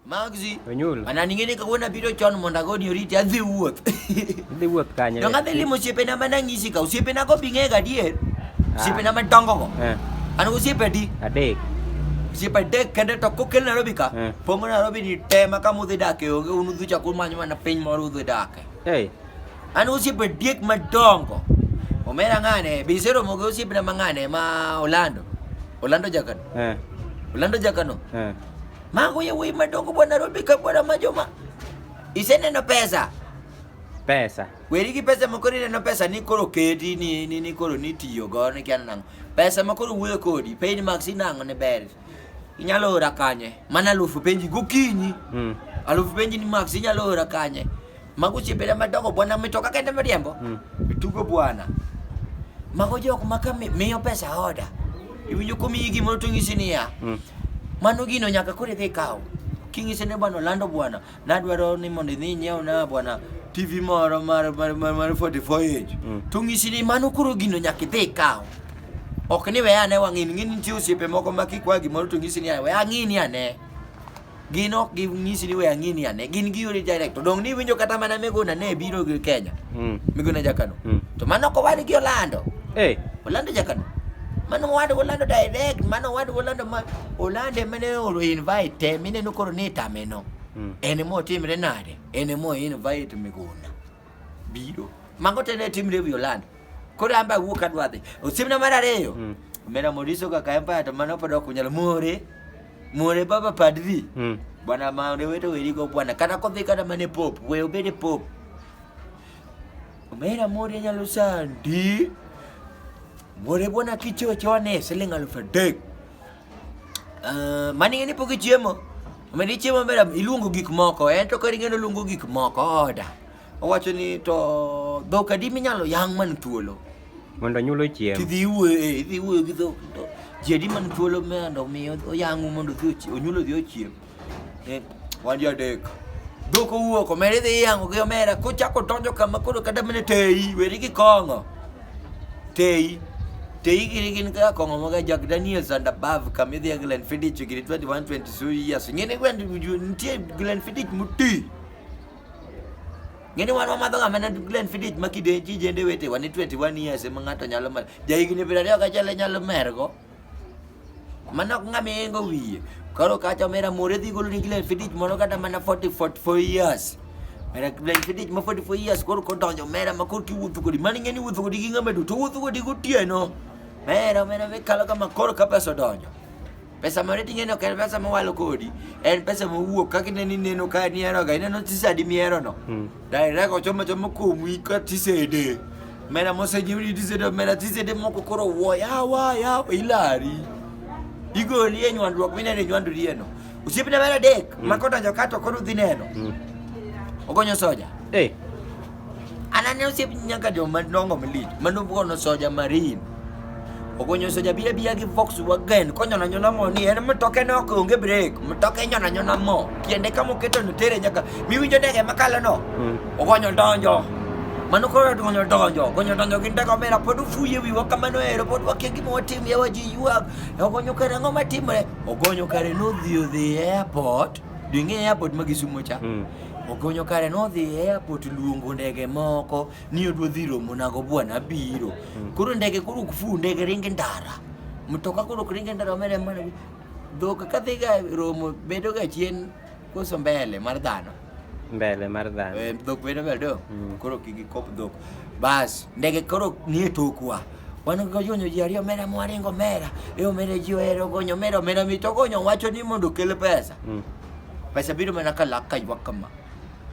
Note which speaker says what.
Speaker 1: Magzi. Onyul. Ana
Speaker 2: ning'eni kawuono abiro
Speaker 1: chon mondo agoni oriti adhi wuoth. Idhi wuoth
Speaker 2: kanye? Donge adhi limo osiepena ma
Speaker 1: nang'isi ka osiepena go bi ng'ega adier. Ah. Osiepena madongo go. Eh. An gi osiepe adi? Adek.
Speaker 2: Osiepe adek
Speaker 1: kende to kokel Nairobi ka. Eh. Pongo Nairobi ni te ma kama udhi dake onge un udhi chako manyo mana piny moro udhi dake. Hey. An gi osiepe adek madongo. Omera ng'ane, be iseromo gi osiepena ma ng'ane ma Orlando. Orlando Jakano. Eh. Orlando Jakano. Eh. Mago ya wei madongo bwa Nairobi ka bwa majoma. Iseneno pesa. Pesa.
Speaker 2: Weri gi pesa
Speaker 1: moko rineno pesa ni koro kedi ni ni, ni koro ni tiyo go ni kiana nango. Pesa ma koro wuoyo kodi, pay max sinango ne ber. Inyalo ora kanye? Mana alufu penji gokinyi. Mm. Alufu penji ni max inyalo ora kanye? Mago chiebele madongo bwana mitoka kende miriembo. Mm. Tugo bwana. Mago jok ma ka miyo pesa oda. Iwinjo komiyi gimoro to ng'isi niya. Mm. Mano gino nyaka koro idhi kaw. King'ise ne bwana olando bwana. Nadwaro ni mondo idhi nyiew na bwana TV moro mar mar mar, mar 44 inch. Mm. To ng'isi ni mano koro gino nyaka idhi kaw. Ok ni weya ne wang'ini ng'ini nitie osiepe moko ma kikwa gimoro to ng'isi ni weya ng'ini ane. gin ok ginyisi ni we ang'i ni ane gin giyori direct to dong' ni iwinjo kata mana miguna ne biro gi kenya Mm. miguna jakano Mm. to mano ok owadgi olando Eh, olando jakano mano owadgi olando direct mano owadgi olando ma olande mane oro invite te mineno koro ni itameno mm. en ema otimre nade en ema o invite miguna biro. Mago te ne timre e wi Orlando. Koro an be awuok adwa dhi. Osiepna mar ariyo, Mm. omera Moriso kaka Empire to mano pod ok unyal more. More baba padri. Mm. Bwana maore weto werigo bwana kata kodhi kata mane pop we obede pop omera mori nyalo sandi more bwana kichochone siling alufu adek Uh, mani ng'e ni pok ichiemo. Omed ichiemo maber iluongo gik moko. En to kori ng'eno luongo gik moko oda. Owacho ni to dhok adi minyalo yang' man thuolo. Mondo nyulo
Speaker 2: chiemo. Tidhi wuoyo, eh, idhi
Speaker 1: wuoyo gi dhok. Ji adi man thuolo mondo omi oyang'u mondo odhi onyulo odhi ochiem. Eh, wandi adek. Doko uwo ko mere dhi yango gi omera ko chako donjo kama koro kada mene tei weri gi kongo. Tei. Tei giri gin ka kongo mga Jack Daniels and above kama idhi Glenn Fiddich giri 21 22 years. Ngene gwendi uju ntie Glenn Fiddich muti. Ngene wan wamadho ga mana Glenn Fiddich makide jijende wete wani 21 years ema ng'ato nyalo mar. Jahigni 20 kachale nyalo mergo. Mano ok ng'ama yengo wiye. Koro kacha omera more dhi golo ni Glenn Fiddich moro kata mana 40 44 years. Mera Glenn Fiddich ma 44 years koro kodonjo mera ma koro kiwuotho kodi. Mano ing'e ni wuotho kodi gi ng'ama duto wuotho kodi gotieno. Mera mera me kalo kama koro ka pesa odonjo. Pesa mare ting'e ni ok en pesa mowalo kodi. En pesa mowuok kaka ineno ineno ka ni eroga ineno tisadi mierono. Daira ko choma choma ko mwi ka tisede. Mera mose jimri tisede mera tisede moko koro wo ya wa ya ilari. Igo liye nywandruok mine ne nywandu liye no. Usipi na mera dek mm. makota jokato koro dhi neno. Mm. Ogonyo soja. Eh. Hey. Anane usipi nyaka jo madongo mlit. Mano bukono soja marine. ogonyoso jabiya biya gi vox wagen konyona nyona mo ni en mtoke ne ok onge break mtoke nyona nyona mo tiende kama oketo no tere nyaka miwinjo ndege makalo no mm. ogonyo donjo mano koro donjo donjo ogonyo donjo gi ndege omera pod ufuye wiwa kamano ero pod wakia gima watim yawa ji ywak ogonyo kare ang'o matimre ogonyo kare nodhi odhi e airport ding'e airport ma gisumo cha mm. ogonyo kare nodhi e airport luongo ndege moko niyo dwadhi romo nago bwana abiro hmm. koro ndege koro ok fu ndege ringe ndara mtoka koro ok ringe ndara omere mana dhok ka dhiga romo bedo ga chien koso mbele mar dhano mbele mar dhano eh, dhok bedo mbele do hmm. koro kigi kop dhok bas ndege koro nie tokwa wan gogonyo ji ariyo omera mwaringo omera e omera ji ohero gonyo omera omera mito gonyo wacho ni mondo okel pesa mm. pesa biro mana ka lak ka ywak kama